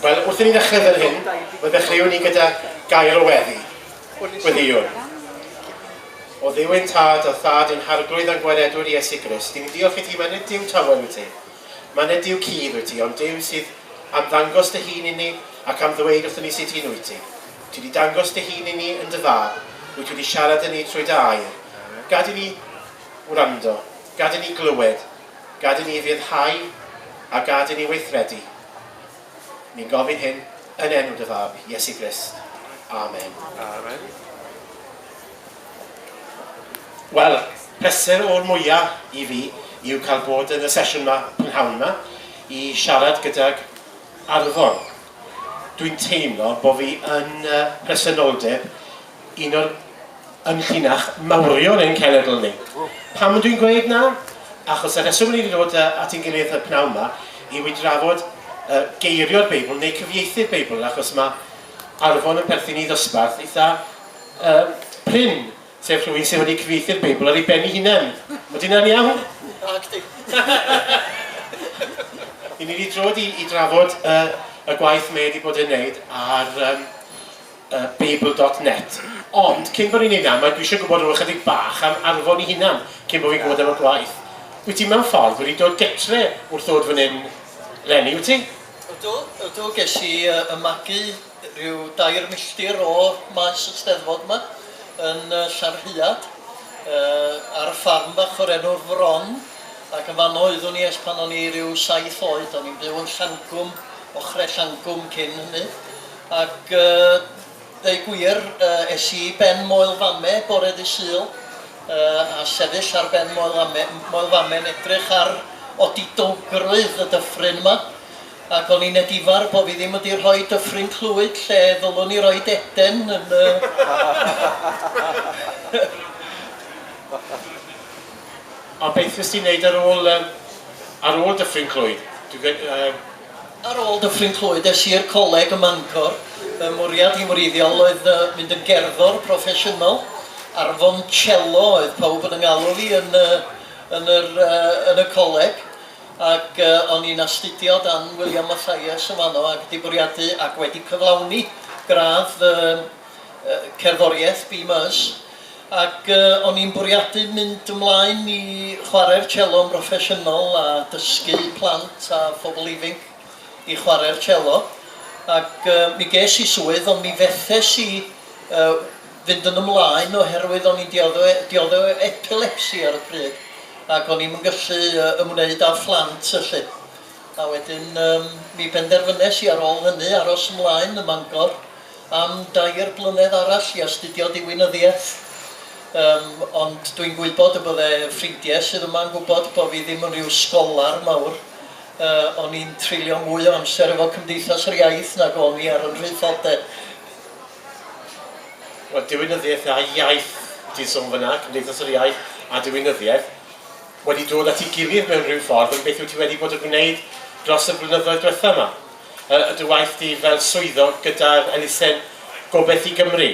Wel, wrth i ni ddechrau fel hyn, fe ddechreuwn ni gyda gair o weddi. Gweddïwn. O dduw ein tad, a thad ein harglwydd a'n gwaredwr Iesu Grist, ni'n diolch i ti, mae nid Duw tawel wyt ti, mae nid Duw cudd wyt ti, ond Duw sydd am ddangos dy hun inni ac am ddweud wrthyn ni sut un wyt ti. Ti wedi dangos dy hun i ni yn dy fab, wyt ti wedi siarad â ni trwy dy air. Gad i ni wrando, gad i ni glywed, gad i ni ryddhau a gad i ni weithredu. Ni'n gofyn hyn yn enw dy fab, Iesu Grist. Amen. Amen. Wel, pleser o'r mwyaf i fi yw cael bod yn y sesiwn yma prynhawn yma i siarad gydag Arfon. Dwi'n teimlo bo fi yn yy presenoldeb un o'r ynllinach mawrion ein cenedl ni. Pam ydw i'n gweud 'na? Achos y rheswm ry'n ni'n dod yy at ein gilydd y pnawn 'ma yw i drafod yy geirio'r Beibl neu cyfieithu'r Beibl achos ma' Arfon yn perthyn i ddosbarth eitha yy prin. Sef rhywun sydd wedi cyfieithu'r Beibl ar ei ben ei hunain. Ydy hynna'n iawn? Nacdi. Ni'n mynd i drod i, i drafod y, y gwaith mae wedi bod yn wneud ar um, uh, Babel.net. Ond, cyn bod ni'n ei na, mae dwi eisiau gwybod rhywbeth chydig bach am arfon i hunan, cyn bod fi'n gwybod am y gwaith. Wyt ti mewn ffordd wedi dod getre wrth ddod fan hyn, Lenny, wyt ti? Ydw, ydw, ges i uh, ymagu rhyw dair milltir o maes y Steddfod 'ma yn yy Llanrhiad yy ar y ffarm fach o'r enw'r Fron ac yn fanno oeddwn i ers pan o'n i ryw saith oed, o'n i'n byw yn Llangwm, ochre Llangwm cyn hynny ac yy ddeu gwir yy es i i ben Moel Fame bore ddydd Sul yy a sefyll ar ben Moel Fame, Moel Fame yn edrych ar odidowgrwydd y dyffryn 'ma Ac o'n i'n edifar bo' fi ddim wedi rhoi Dyffryn Clwyd lle ddylwn i roid Eden yn y A beth wnest ti neud ar ôl yym ar ôl Dyffryn Clwyd? Dwi gwe- yy. Ar ôl Dyffryn Clwyd es i i'r coleg ym Mangor, fy mwriad i wreiddiol oedd yy mynd yn gerddor proffesiynol, a'r foncello oedd pawb yn 'y ngalw fi yn y yn yr yy yn y coleg. Ac o'n i'n astudio dan William Mathias yn fanno ac 'di bwriadu ac wedi cyflawni gradd fy cerddoriaeth BMus ac o'n i'n bwriadu mynd ymlaen i chwarae'r cello'n broffesiynol a dysgu plant a phobl ifinc i chwarae'r cello ac mi ges i swydd ond mi fethes i fynd yn ymlaen oherwydd o'n i'n diodde' diodde' o epilepsi ar y pryd ac o'n i'm yn gallu yy ymwneud â phlant felly. A wedyn yym mi benderfynes i ar ôl hynny aros ymlaen ym Mangor am dair blynedd arall i astudio diwinyddiaeth yym ond dwi'n gwybod y bydde ffrindiau sydd yma'n gwybod bo' fi ddim yn ryw sgolar mawr yy o'n i'n treulio mwy o amser efo Cymdeithas yr Iaith nag o'n i ar 'y nhraethodau. Wel, diwinyddiaeth a iaith, ti'n sôn fan'na, Cymdeithas yr Iaith a diwinyddiaeth, wedi dod at ei gilydd mewn rhyw ffordd, ond beth wyt ti wedi bod yn gwneud dros y blynyddoedd diwethaf yma? Yy, y dy waith di fel swyddog gyda'r elusen Gobeith i Gymru.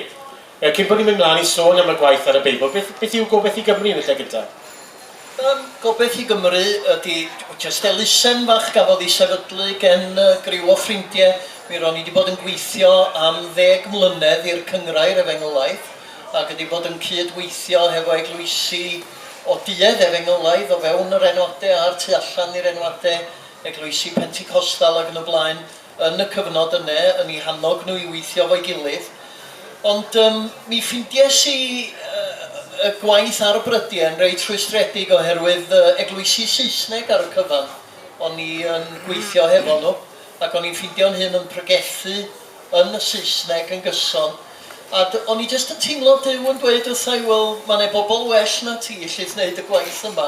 Yy, cyn bod ni'n mynd mlaen i sôn am y gwaith ar y Beibl, beth, beth yw Gobeith i Gymru yn y lle gyntaf? Yym, gobaith i Gymru ydi jyst elusen fach gafodd ei sefydlu gen griw o ffrindie. Mi ro'n i 'di bod yn gweithio am ddeg mlynedd i'r Cynghrair Efengylaidd ac wedi bod yn cyd-weithio hefo eglwysi o duedd Efengylaidd o fewn yr enwade a'r tu allan i'r enwade, eglwysi Penticostal ac yn y blaen. yn y cyfnod yne yn i hannog nhw i weithio efo'i gilydd, ond yym mi ffindies i yy y gwaith ar y brydiau yn reit rhwystredig oherwydd yy eglwysi Saesneg ar y cyfan o'n i yn gweithio hefo nhw ac o'n i'n ffindio'n hun yn pregethu yn y Saesneg yn gyson a d- o'n i jyst yn teimlo Duw yn dweud wrtha i wel ma' 'ne bobl well na ti sydd wneud y gwaith yma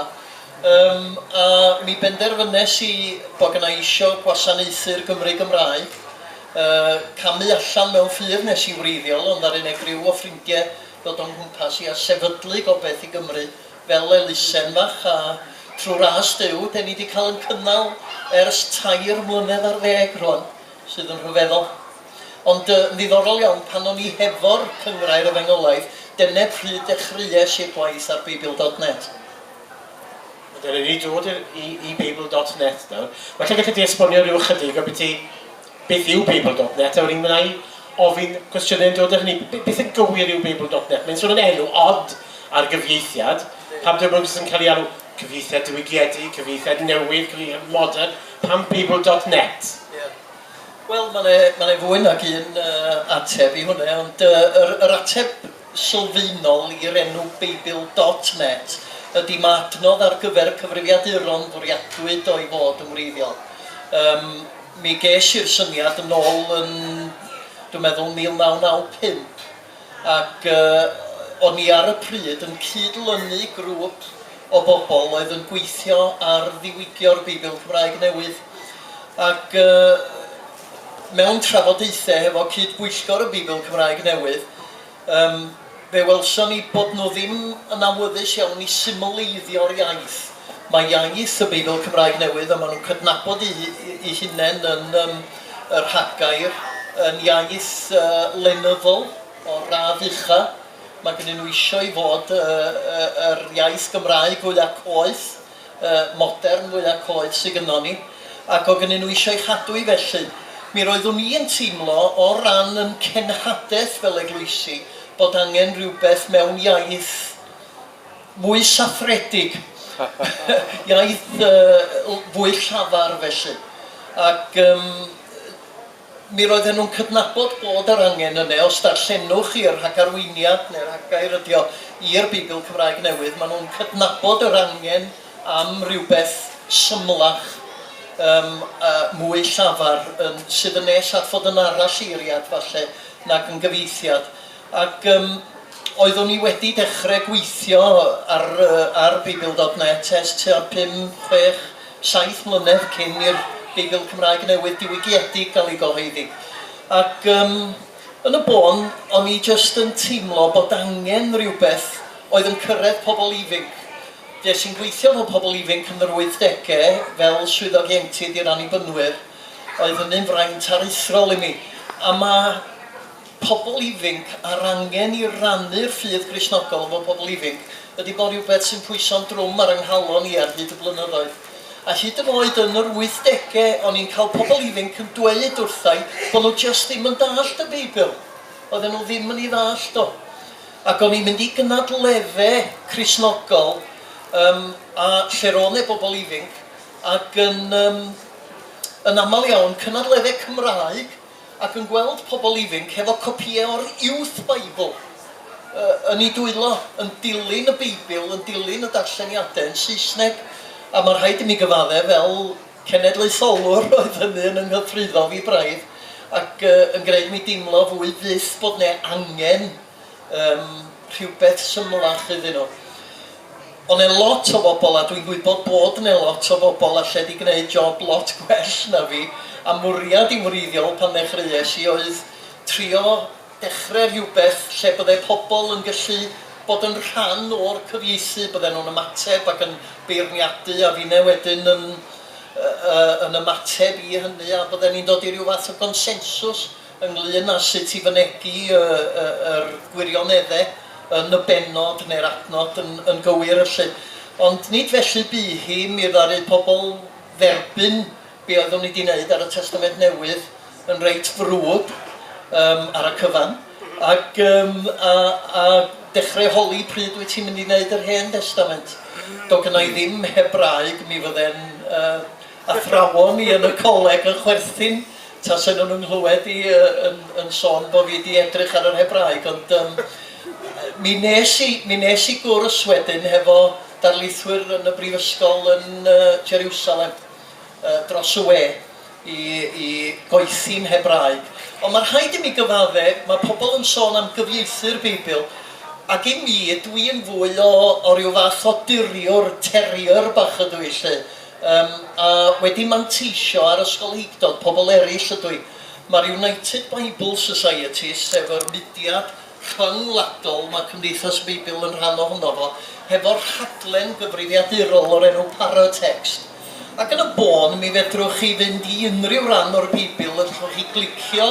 Yym, a mi benderfynes i bo' gynna' i isio gwasanaethu'r Gymry Gymraeg. Yy, camu allan mewn ffydd nes i wreiddiol, ond ddaru 'ne griw o ffrindie ddod o'n nghwmpas i a sefydlu Gobeth i Gymru fel elusen fach a trw ras Duw 'de ni 'di cael 'n cynnal ers tair mlynedd ar ddeg rwan, sydd yn rhyfeddol. Ond yy, yn ddiddorol iawn, pan o'n i hefo'r Cynghrair Efengylaidd, dene pryd dechreues i'r gwaith ar Beibl dot net. Dw i wedi dod i'r... i i Babel dot net nawr. Well lle gallet ti esbonio ryw ychydig ambiti beth yw Babel dot net a wedyn wna i ofyn cwestiynau yn dod â hynny. B- beth yn gywir yw Babel dot net? Mae'n sôn am enw od ar gyfieithiad. Pam dyw e ddim jyst yn cael ei alw cyfieithiad diwygiedig, cyfieithiad newydd, cyfieithiad modern? Pam Babel dot net? Ie. Wel, mae 'na mae 'na fwy nag un yy ateb i hwnna, ond yy yr yr ateb sylfaenol i'r enw Beibl dot net ydy ma' adnodd ar gyfer cyfrifiaduron fwriadwyd o'i fod yn wreiddiol. Yym, mi ges i'r syniad yn ôl yn, dwi'n meddwl, 1995, ac yy o'n i ar y pryd yn cyd-lynu grŵp o bobl oedd yn gweithio ar ddiwygio'r Beibl Cymraeg Newydd, ac yy, Mewn trafodaethau hefo cyd-bwyllgor y Beibl Cymraeg Newydd, yym, fe welson ni bod nhw ddim yn awyddus iawn i symleiddio'r iaith. Mae iaith y Beibl Cymraeg Newydd, a maen nhw'n cydnabod eu eu hunain yn yym y rhagair, yn iaith yy lenyddol o'r radd ucha'. Mae gennyn nhw isio i fod yy yy yr iaith Gymraeg fwya' coeth. modern fwya coeth sy gynnon ni, ac o' gynnyn nhw isio ei chadw 'i felly. Mi roeddwn i yn teimlo, o ran 'yn cenhadaeth fel eglwysi, bod angen rhywbeth mewn iaith fwy saffredig, iaith fwy llafar felly. Ac yym Mi roedden nhw'n cydnabod bod yr angen yne. Os darllenwch chi y rhagarweiniad, neu'r rhagair ydy o, i'r Beibl Cymraeg Newydd, maen nhw'n cydnabod yr angen am rywbeth symlach, yym, a mwy llafar, yn, sydd yn nes at fod yn aralleiriad, falle, nag yn gyfieithiad. Ac yym oeddwn i wedi dechre gweithio ar yy ar Beibl dot net ers tua pum, chwech, saith mlynedd cyn i'r Beibl Cymraeg Newydd diwygiedig gael ei gyhoeddi. Ac yym yn y bôn, o'n i jyst yn teimlo bod angen rhywbeth oedd yn cyrraedd pobl ifinc. Des i'n gweithio efo pobl ifinc yn yr wythdegau fel swyddog ieuenctid i'r Annibynwyr. Oedd hynny'n fraint aruthrol i mi. A ma'... pobl ifinc a'r angen i rannu'r ffydd Gristnogol efo pobl ifinc, ydy bod rhywbeth sy'n pwyso'n drwm ar 'y nghalon i ar hyd y blynyddoedd. A hyd yn oed yn yr wythdege o'n i'n cael pobl ifinc yn dweud wrtha'i bod nhw jyst ddim yn dallt y Beibl. Oedden nhw ddim yn ei ddallt o. Ac o'n i'n mynd i gynadledde Cristnogol yym a lle roedd 'ne bobl ifinc ac yn yym yn aml iawn cynadledde Cymraeg, ac yn gweld pobl ifinc hefo copïau o'r Youth Bible yy yn eu dwylo, yn dilyn y Beibl, yn dilyn y darlleniadau yn Saesneg. A mae'n rhaid i mi gyfaddef, fel cenedlaetholwr, roedd hynny yn 'y nghythruddo fi braidd, ac yy yn gwneud mi deimlo fwy fyth bod 'ne angen Yym, rhywbeth symlach iddyn nhw. Ond mae lot o bobl, a dwi'n gwybod bod yna lot o bobl alle 'di gwneud job lot gwell na fi, a mwriad i'm wreiddiol pan ddechreuais i oedd trio dechrau rhywbeth lle bydde pobl yn gallu bod yn rhan o'r cyfieithu, bydden nhw'n ymateb ac yn beirniadu a finne wedyn yn yy yn ymateb i hynny a bydden ni'n dod i ryw fath o gonsensws. ynglŷn â sut i fynegi yr gwirionedde yn y bennod neu'r adnod yn yn gywir felly. Ond nid felly bu hi, mi ddaru pobl dderbyn be oeddwn i 'di neud ar y Testament Newydd yn reit frwd yym ar y cyfan ac yym a a dechre holi pryd wyt ti'n mynd i neud yr Hen Destament. Do gynna i ddim Hebraeg mi fydde'n yy Athrawon ni yn y coleg yn chwerthin tase nhw'n 'y nghlywed i yn yn sôn bo' fi 'di edrych ar yr Hebraeg ond yym mi nes i mi nes i gwrs wedyn hefo darlithwyr yn y brifysgol yn yy Jeriwsalem yy dros y we i i goethi'n Hebraeg. Ond ma' rhaid i mi gyfadde', ma' pobl yn sôn am gyfieithu'r Beibl ac i mi dwi yn fwy o o ryw fath o diriwr, terrier bach ydw i 'lly. Yym, a wedi manteisio ar ysgolheictod pobl eraill ydw i. Mae'r United Bible Society, sef yr mudiad rhyngwladol mae Cymdeithas y Beibl yn rhan ohono fo, hefo rhaglen gyfrifiadurol o'r enw Paratext. Ac yn y bôn, mi fedrwch chi fynd i unrhyw ran o'r Beibl, allwch chi glicio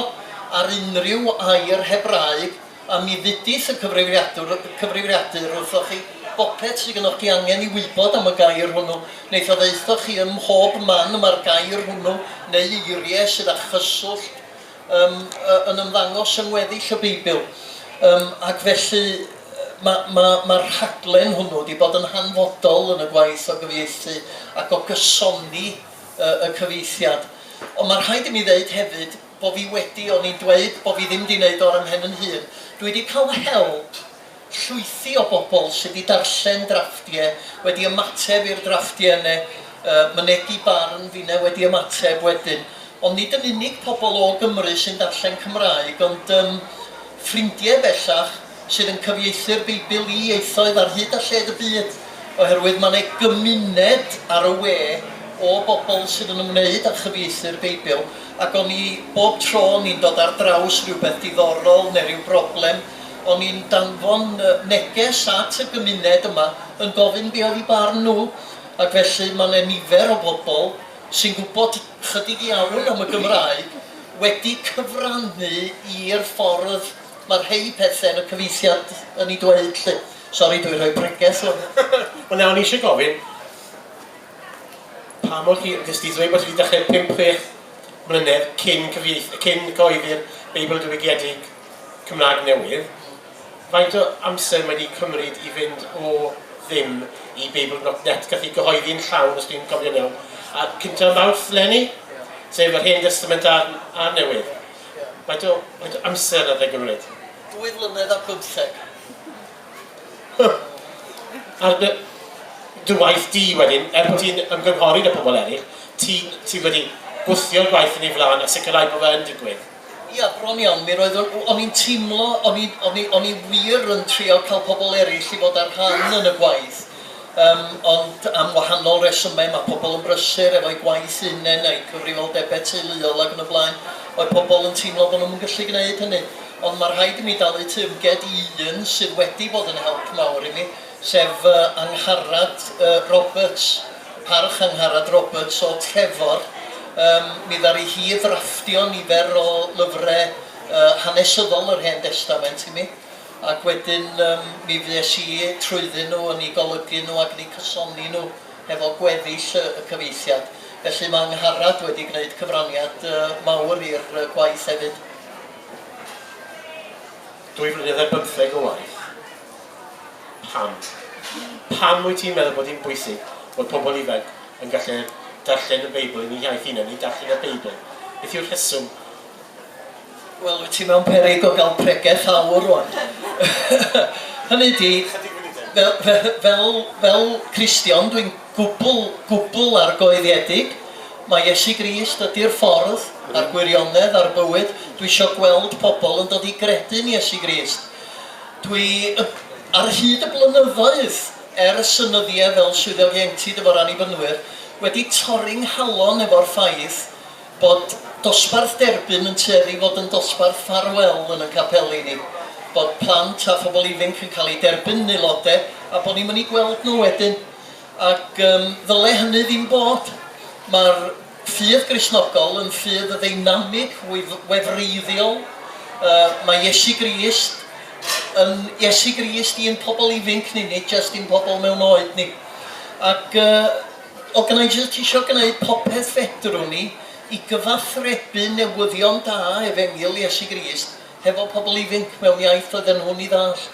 ar unrhyw air Hebraeg, A mi ddudith y cyfrifiadwr, y cyfrifiadur, wrthoch chi, bopeth sy gynnoch chi angen i wybod am y gair hwnnw, neith o ddaethoch chi ym mhob man y mae'r gair hwnnw, neu eirie sydd â chyswllt, yym, yn ymddangos yng ngweddill y Beibl. Yym, ac felly, ma', ma', ma'r rhaglen hwnnw 'di bod yn hanfodol yn y gwaith o gyfieithu ac o gysoni y y cyfieithiad. Ond ma' rhaid i mi ddeud hefyd, bo fi wedi oni dweud bo fi ddim di neud o ar 'y mhen 'yn hun, dwi di ca'l help llwythi o bobl sy di darllen drafftie, wedi ymateb i'r drafftie ne yy mynegi barn fi ne wedi ymateb wedyn. Ond nid yn unig pobl o Gymru sy'n darllen Cymraeg ond yym ffrindie bellach sydd yn cyfieithu'r Beibl i ieithoedd ar hyd a lled y byd oherwydd ma' 'ne gymuned ar y we o bobl sydd yn ymwneud â chyfieithu'r Beibl. Ac o'n i, bob tro o'n i'n dod ar draws rhywbeth diddorol neu ryw broblem, o'n i'n danfon neges at y gymuned yma yn gofyn be oedd eu barn nhw. Ac felly mae 'na nifer o bobl sy'n gwybod chydig iawn am y Gymraeg wedi cyfrannu i'r ffordd mae rhei pethe yn y cyfieithiad yn ei dweud 'lly. Sori, dwi'n rhoi pregeth ŵan. Wel na, o'n i isie gofyn, Pa mor hir ydych chdi? Dw i'n gwybod ti wedi dechrau pump, chwech mlynedd cyn cyfieith- cyn cyhoeddi'r Beibl Diwygiedig Cymraeg newydd. Faint o amser mae wedi cymryd i fynd o ddim i Beibl dot net? Gath ei gyhoeddi yn llawn, os dwi'n cofio'n iawn, a cyntaf Mawrth leni, sef yr Hen Destament a'r, a'r Newydd. Faint o, faint o amser oedd e'n gymryd? Dwy flynedd a pymtheg. Ar dy... dy waith di wedyn, er bod ti'n ymgynghori 'da pobl eraill, ti'n... ti wedi gwthio'r gwaith yn ei flaen a sicrhau bod fe yn digwydd? Ia, bron iawn. Mi roeddwn... o'n i'n teimlo... o'n i... o'n i... o'n i wir yn trio cael pobl eraill i fod â rhan yn y gwaith, yym, ond am wahanol resymau, mae pobl yn brysur efo'u gwaith eu hunain a'u cyfrifoldebau teuluol ac yn y blaen, oedd pobl yn teimlo bod nhw'm yn gallu gwneud hynny. Ond mae rhaid i mi dalu teyrnged i un sydd wedi bod yn help mawr i mi, sef fy Angharad Roberts, Parch Angharad Roberts o Trefor. Yym, mi ddaru hi ddrafftio nifer o lyfrau hanesyddol yr Hen Destament i mi, ac wedyn yym mi fues i trwyddyn nhw, yn eu golygu nhw ac yn eu cysoni nhw hefo gweddill y cyfieithiad. Felly mae Angharad wedi gwneud cyfraniad mawr i'r gwaith hefyd. Dwy flynedd ar bymtheg o waith? Pam? Pam wyt ti'n meddwl bod hi'n bwysig bod pobl ifanc yn gallu darllen y Beibl yn eu hiaith hunan, neu darllen y Beibl? Beth yw'r rheswm? Wel, wyt ti mewn peryg o gael pregeth awr rwan. Hynny ydi, fel, fel, fel Cristion, dwi'n gwbl, gwbl argoeliedig. Mae Iesu Grist ydy'r ffordd a'r gwirionedd a'r bywyd. Dwi isio gweld pobl yn dod i gredu'n Iesu Grist. Dwi, ar hyd y blynyddoedd, ers y nyddiau fel swyddog ieuenctid efo'r Annibynwyr, wedi torri 'nghalon efo'r ffaith bod dosbarth derbyn yn tueddu i fod yn dosbarth ffarwel yn 'yn capeli ni, bod plant a phobl ifinc yn cael eu derbyn yn aelodau a bod ni'm yn eu gweld nhw wedyn. Ac yym ddyle hynny ddim bod. Mae'r ffydd Gristnogol yn ffydd ddeinamig, wyf- wefreiddiol. Yy mae Iesu Grist yn Iesu Grist i'n pobl ifinc ni, nid jyst i'n pobl mewn oed ni. Ac yy o gynna' i jyst isio gneud popeth fedrwn i i gyfathrebu newyddion da efengyl Iesu Grist hefo pobl ifinc mewn iaith roedden nhw'n ei ddallt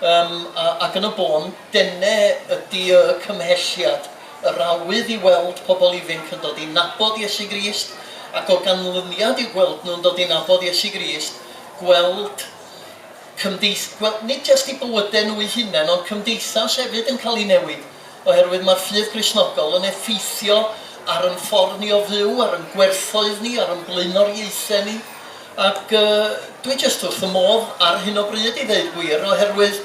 yym a ac yn y bôn, dene ydi y cymhelliad, yr awydd i weld pobl ifinc yn dod i nabod Iesu Grist ac o ganlyniad i'w gweld nhw'n dod i nabod Iesu Grist, gweld cymdeith- gweld nid jyst eu bywyde nhw eu hunain ond cymdeithas hefyd yn cael ei newid. Oherwydd mae'r ffydd Gristnogol yn effeithio ar yn ffordd ni o fyw, ar yn gwerthoedd ni, ar yn blaenoriaethau ni, ac yy dwi jyst wrth fy modd ar hyn o bryd i ddeud gwir, oherwydd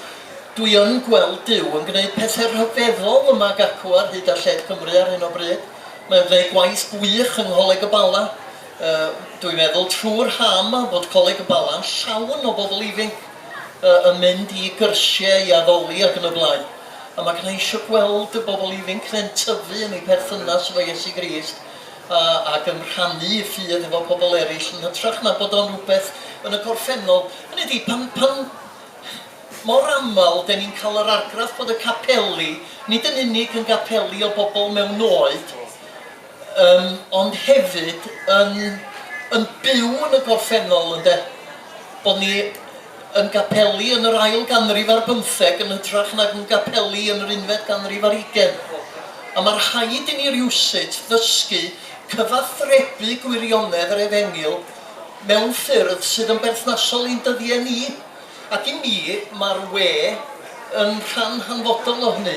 dwi yn gweld Duw yn gwneud pethau rhyfeddol yma ag acw ar hyd a lled Cymru ar hyn o bryd. Mae o'n gwneud gwaith gwych yng Ngholeg y Bala. Yy dwi'n meddwl trwy'r ha' yma bod Coleg y Bala'n llawn o bobl ifinc yy yn mynd i gyrsiau, i addoli ac yn y blaen. A mae gennai eisiau gweld y bobl ifinc ne'n tyfu yn eu perthynas efo Iesu Grist a ac yn rhannu eu ffydd efo pobl eraill yn hytrach na bod o'n rhywbeth yn y gorffennol, hynny ydi, pan pan mor aml 'den ni'n cael yr argraff bod y capeli nid yn unig yn gapeli o bobl mewn oed, Yym, ond hefyd yn yn byw yn y gorffennol, ynde? Bod ni yn gapeli yn yr ail ganrif ar bymtheg yn hytrach nag yn gapeli yn yr unfed ganrif ar hugain. A mae rhaid i ni rywsut ddysgu cyfathrebu gwirionedd yr efengyl mewn ffyrdd sydd yn berthnasol i'n dyddiau ni. Ac i mi, mae'r we yn rhan hanfodol o hynny.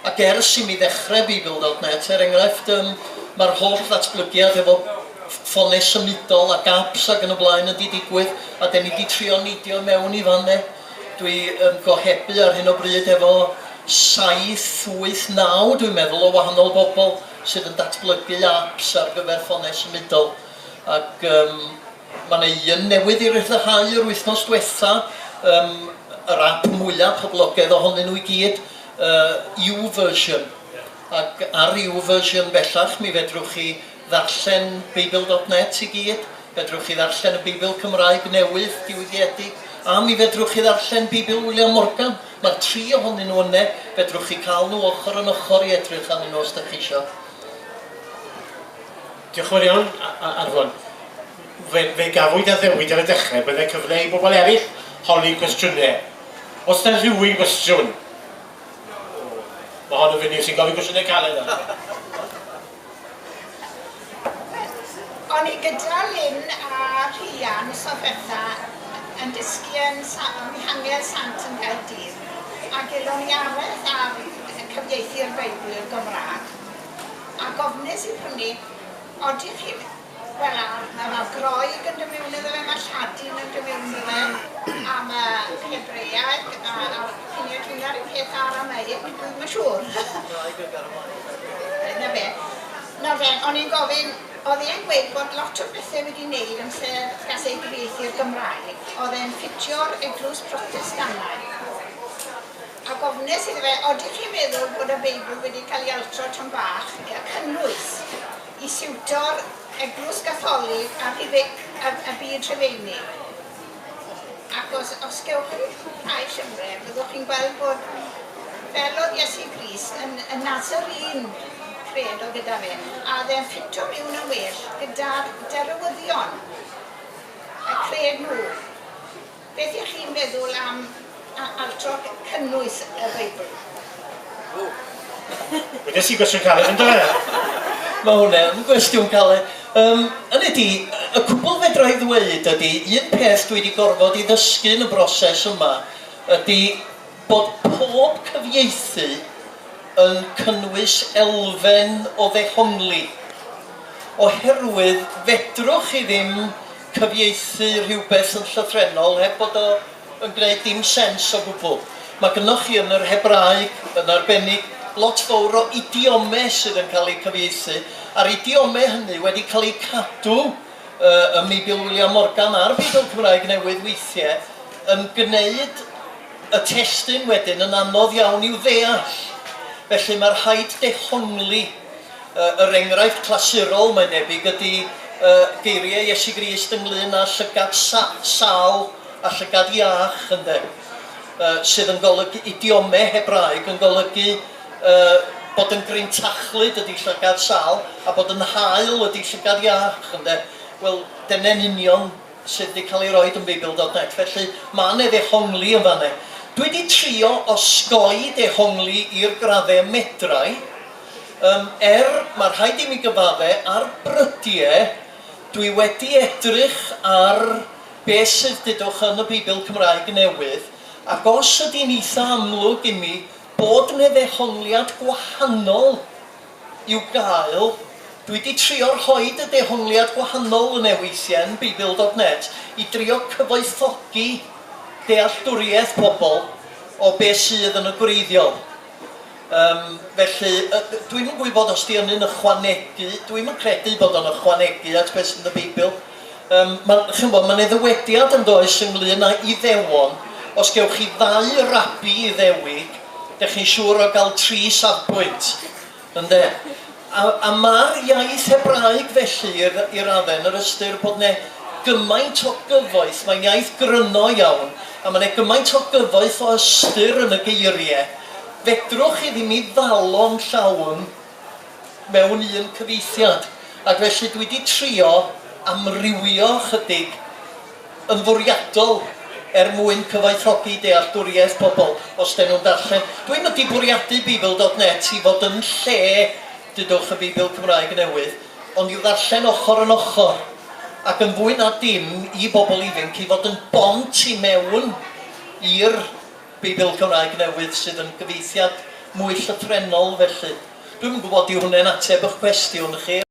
Ac ers i mi ddechrau Beibl dot net, er enghraifft, yym, mae'r holl ddatblygiad hefo ffonau symudol ac apps ac yn y blaen yn 'di digwydd, a 'den ni 'di trio neidio i mewn i fan 'ne. Dwi yn gohebu ar hyn o bryd hefo saith, wyth, naw, dwi'n meddwl, o wahanol bobl sydd yn datblygu apps ar gyfer ffonau symudol, ac yym, mae 'na un newydd i ryddhau yr wythnos diwetha', yym, yr app mwya' poblogaidd ohonyn nhw i gyd, Yy YouVersion, ac ar YouVersion bellach mi fedrwch chi ddarllen Beibl dot net i gyd, fedrwch chi ddarllen y Beibl Cymraeg newydd, diwygiedig, a mi fedrwch chi ddarllen Beibl William Morgan, mae'r tri ohonyn nhw yne, fedrwch chi cael nhw ochr yn ochr i edrych arnyn nhw os dach chi isio. Diolch yn fawr iawn, Arfon. Fe, fe gafwyd addewid ar y dechrau, byddai cyfle i bobl eraill holi cwestiynau. Oes 'na rhywun gwestiwn? Mae hon yn fyny, sy'n gofyn cwestiynau caled arno fi. O'n i gyda Lynn a Rhian mis ddiwetha yn dysgu yn Mihangel Sant yn Nghaerdydd a gelon ni araith ar cyfieithu'r Beibl i'r Gymraeg a gofnes i prynu, odych chi'n Wel nawr, mae ma Groeg yn dy miwn iddo fe, mae Lladin yn dy miwn iddo fe, a mae Hebreaeg a a fi'n ei atwyna ryw peth Aramaic, dwi ddim yn siŵr. Cymraeg ac Aramaic a Hebreaeg. 'na fe. Nawr de, o'n i'n gofyn, oedd e'n gweud bod lot o bethe wedi neud amser gas ei gyfieithu i'r Gymraeg, oedd e'n ffitio'r eglwys Protestannaidd. Ac ofnes iddo fe, odych chi'n meddwl bod y Beibl wedi cael ei altro tŷm bach, a cynnwys? Y siwtor, Eglwys Gatholig a Rhufeinig, y byd Rhufeinig. Ac os, os gewch chi cwblhau llyfrau, byddwch chi'n gweld bod fel oedd Iesu Grist yn, yn Nazarene, cred o gyda fe, a oedd e'n ffito miwn yn well gyda'r derywyddion, y cred nhw. Beth y'ch chi'n meddwl am Altroc cynnwys y Beibl? Ww! Wedes i gwestiwn caled yn do? Mae hwnna yn gwestiwn caled. Yym, hynny ydi, y cwbl fedra i ddweud ydi, un peth dwi 'di gorfod 'i ddysgu yn y broses yma ydi bod pob cyfieithu yn cynnwys elfen o ddehongli, oherwydd fedrwch chi ddim cyfieithu rhywbeth yn llythrennol heb bod o yn gwneud dim sens o gwbl. Mae gynnoch chi yn yr Hebraeg, yn arbennig, lot fowr o idiome sydd yn cael eu cyfieithu, a'r idiome hynny wedi cael eu cadw yy ym Meibil Wiliam Morgan a'r Beibl Cymraeg Newydd weithiau, yn gwneud y testun wedyn yn anodd iawn i'w ddeall. Felly, mae rhaid dehongli. Yr enghraifft clasurol, mae'n debyg, ydy geiriau Iesu Grist ynglŷn â llygad sâl a llygad iach, ynde, sydd yn golygu, idiome Hebraeg, yn golygu bod yn grintachlyd ydy llygad sâl a bod yn haul ydy llygad iach, ynde. Wel, dyna'n union sydd wedi cael ei roed yn Beibl dot net, felly mae 'na ddehongli yn fan 'na. Dwi wedi trio osgoi dehongli i'r graddau y medra i. Yym, er, mae rhaid i mi gyfadde, ar brydie, dwi wedi edrych ar be sydd, dudwch, yn y Beibl Cymraeg Newydd, ac os ydy'n eitha amlwg i mi bod 'ne ddehongliad gwahanol i'w gael, dwi 'di trio rhoid y dehongliad gwahanol yne weithie yn Beibl dot net i drio cyfoethogi dealltwriaeth pobl o be sydd yn y gwreiddiol. Yym, felly, yy, dw i'm yn gwybod os 'di ynny'n ychwanegu, dw i'm yn credu bod o'n ychwanegu at beth sy'n y Beibl. Yym, ma', chimod, ma' 'ne ddywediad, yn does, ynglŷn â Iddewon, os gewch chi ddau rabi Iddewig, dach chi'n siŵr o gael tri safbwynt, ynde. A, a ma'r iaith Hebraeg felly i, i radde, yn yr ystyr bod 'ne gymaint o gyfoeth, mae'n iaith gryno iawn, a ma' 'ne gymaint o gyfoeth o ystyr yn y geirie, fedrwch chi ddim 'i ddalo'n llawn mewn un cyfieithiad, ac felly dwi 'di trio amrywio chydig. yn fwriadol er mwyn cyfoethogi dealltwriaeth pobl os dyn nhw'n darllen. Dwi'm wedi bwriadu Beibl dot net i fod yn lle, dudwch, y Beibl Cymraeg Newydd, ond i'w ddarllen ochr yn ochr, ac yn fwy na dim i bobl ifinc, i fod yn bont i mewn i'r Beibl Cymraeg Newydd sydd yn gyfieithiad mwy llythrennol felly. Dwi'm yn gwybod yw hwnne'n ateb y'ch cwestiwn chi.